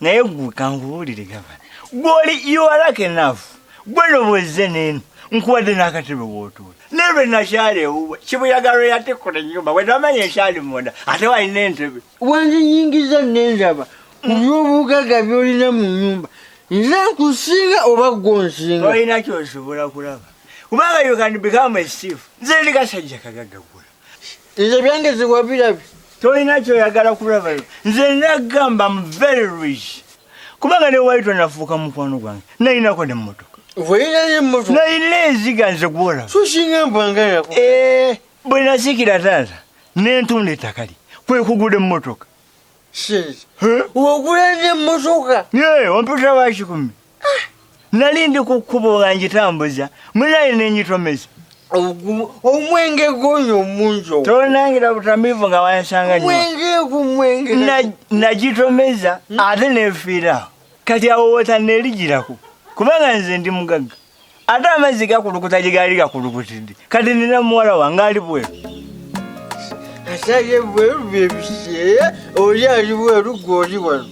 naye gwe kankubuulire gava gwoli iwalaka enaafu gwe nobwezze neeno nkuwadde n'akatebe wootuula naye lwe nakyala ewuwe kibuyaga lwe yatikkula ennyumba bwe namanya ekyali munda ate walina entebe wanzinyingiza nendaba ku by'obugagga byolina mu nnyumba nze nkusinga oba gwonsinga olina kyosobola kulaba kubanga you can become a chief nze ndi kasajja kagagga nze byange ziwabirabi tolina kyoyagala kulaba nze nagamba m very rich kubanga ne waito nafuuka mukwano gwange nalinako ne mmotoka nalina enziga nze gwola eh, bwe nasikira taata nentunda ettakali kwekuguda emmotoka Shit. Wagula ne mmotoka. Yee, ompita wa kikumi. Nali ndi ku kkubo nga ngitambuza, munaye ne ngitomeza. Omwenge gw'oyo omungi. Tonangira butamiivu nga wansanga nnyo. Mwenge ku mwenge. Nagitomeza hmm? ate neefiirawo. Kati awo wootanneerigirako kubanga nze ndi mugagga. ate amazzi gakulukuta gye gaali gakulukutidde kati nina muwala wange ali bweru asabye bweru byebiseera oli ali bweru gwe oli wano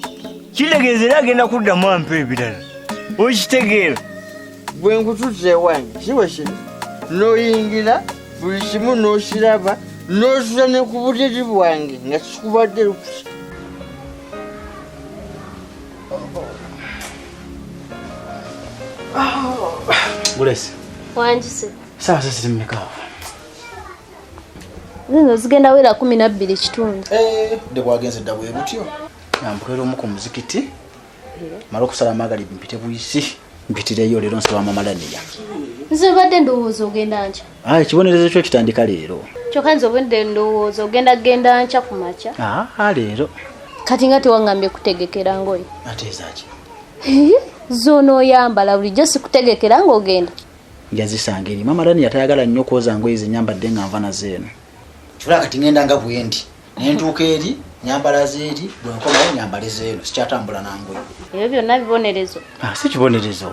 kitegeeza era agenda kuddamu ampa ebirala okitegeera bwe nkutuza ewange siwe kino n'oyingira buli kimu n'okiraba n'ozuza ne ku buliri bwange nga kikubadde lukusa Gulesi. Wanjise. Sawa sasa zimeka. Zino zigenda wera 12 kitundu. Eh, de bwagenze dabwe butyo. Nampulira omu ku muzikiti. Eh. Mara okusala amagali mpite buyisi. Mpitireyo lero nsaba mama Daniel. Nze badde ndowooza ogenda nja. Ah, ekibonerezo kyo kitandika leero kyokka nze obudde ndowooza ogenda genda nkya ku makya ah, ah, leero kati nga tewangambye kutegekera ngoye ateezaki zona oyambala bulijjo sikutegekera ngaogenda njazisanga eri mama dani yatayagala nnyo okwoza ngoye zenyambadde nga nva nazo eno kyola kati ngenda nga bwendi nentuuka eri nyambala zeeri bwenkomawo nyambale zeeno sikyatambula nangoye ebyo byonna bibonerezo si kibonerezo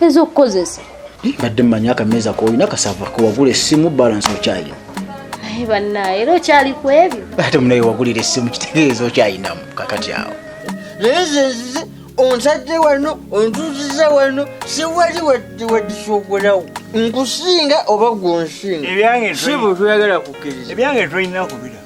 ezokukozesa mbadde mmanyi akameeza koolina kasava kewagula essimu balance okyalina naye bannaye era okyali ku ebyo ate munaye wagulira essimu kitegeeza okyalinamu kakati awo naye zezize onsajje wano ontuziza wano siwali wadisogolawo nkusinga oba gwonsinga ebyange si bwe tuyagala kukkiriza ebyange tolina kubira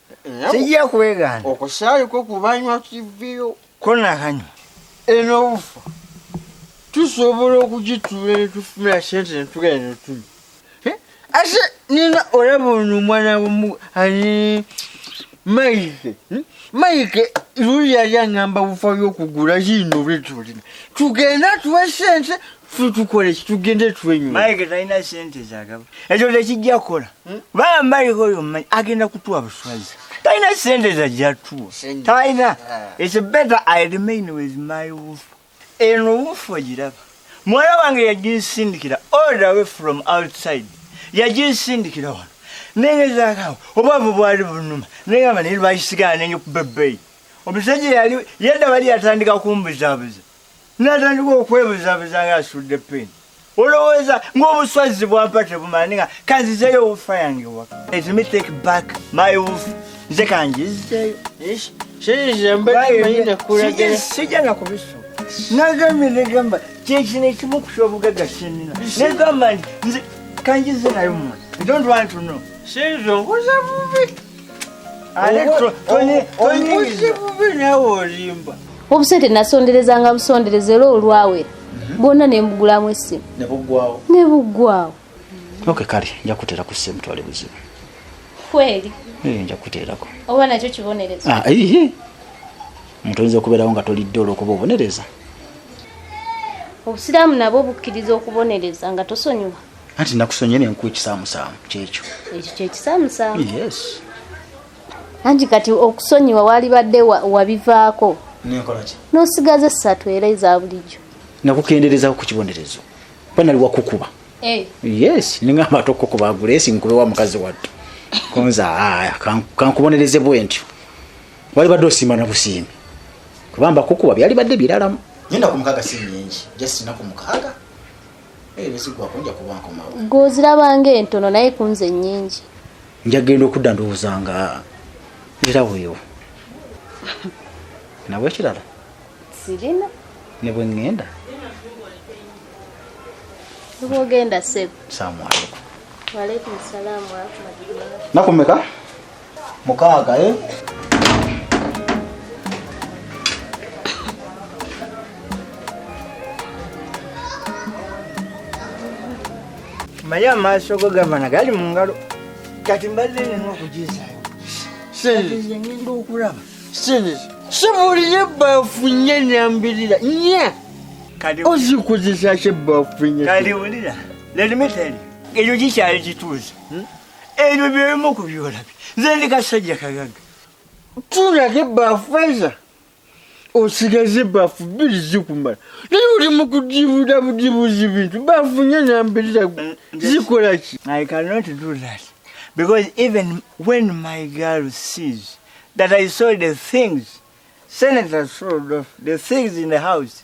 sijja kwegaana okusaayi kwo kubanywa kiviyo konakanywa eno obufa tusobola okugitula netufuna sente netugenda netuli eh? ate nina olaba ono omwana womu ani maike hmm? maike luli yali aŋamba bufa byokugula kiino bwetulina tugenda tuwe sente ffe tukola ekitugende twenywa maike talina sente zagaba ekyo tekijja kukola hmm? baa maike oyo manyi agenda kutuwa buswaza talina sente zajjatuwa talina ah. its better i remain with my wolf eno wolf ogiraba muwala wange yaginsindikira all the way from outside yaginsindikira wano nengezakawo obwavu bwali bunuma nengamba naye lwakisigala nenyo kubebeyi omusajja yali yadda bali yatandika kumbuzabuza natandika okwebuzabuza nga asudde peni olowooza ngaobuswazzi bwampa tebumala ninga kanzizeyo wufa yange waka let me take back my wuf nze kanjizeyo sijja nakubiso nagambye negamba kyekino ekimu kusa obugagga sinina negamba nti nze kanjize nayo mwana i don't want to know sinze nkuza bubi obusente nasonderezanga busondereza era olwawera mhm. bwonna nembugulamu essimu nebuggwawo ok kale nja kutera ku ssimu twali buzibu kweri eh, nja kuterako oba nakyo kibonerezo ah, omuntu oyinza okubeerawo nga tolidde olwokuba obonereza obusiraamu nabwo bukkiriza okubonereza nga tosonyiwa anti nakusonye nenkuwa ekisaamusaamu kyekyo ekyo kyekisaamusaamu yes anti kati okusonyiwa walibadde wabivaako nenkolaki nosigaza essatu era eza bulijjo nakukenderezaho ku kibonerezo kuba nali wakukuba eh. yes ningamba ate okukuba agulesi nkube wa mukazi wattu kunza aya kankubonereze bwentyo walibadde osiima na busiimi kubamba kukuba byalibadde biralamu nyenda ku mukaaga si nyingi just naku mukaaga gwozirabanga entono naye kunze nyingi njagenda okudda ndowooza nga era weyo nawe ekirala sirina ne bwe ŋŋenda bwogenda sebo salamu alaikum nakumeka mukaaga eh? maya amaaso go gavana gali mu ngalo kati mbadde nina okugizayo ngenda okulaba sibuliye ebbaafu nye nambirira nye ozikozesa ki ebbaafu nye kaliwulira lelimi teri eyo gikyali kituuza hmm? ebyo byebimu ku byolabi nze ndi kasajja kagaga tulako ebbaafu faiza osigaza ebbaafu bbiri zikumala naye oli mu kudibuda budibuzi bintu baafu nyo nambirira zikola ki i cannot do that because even when my girl sees that i saw the things senator sold off the things in the house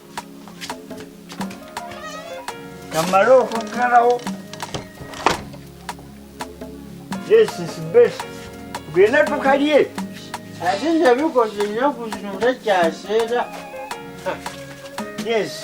kamale okuggalawo this is best genda tukalye ate nze bikoze ennaku zino takyaseera yes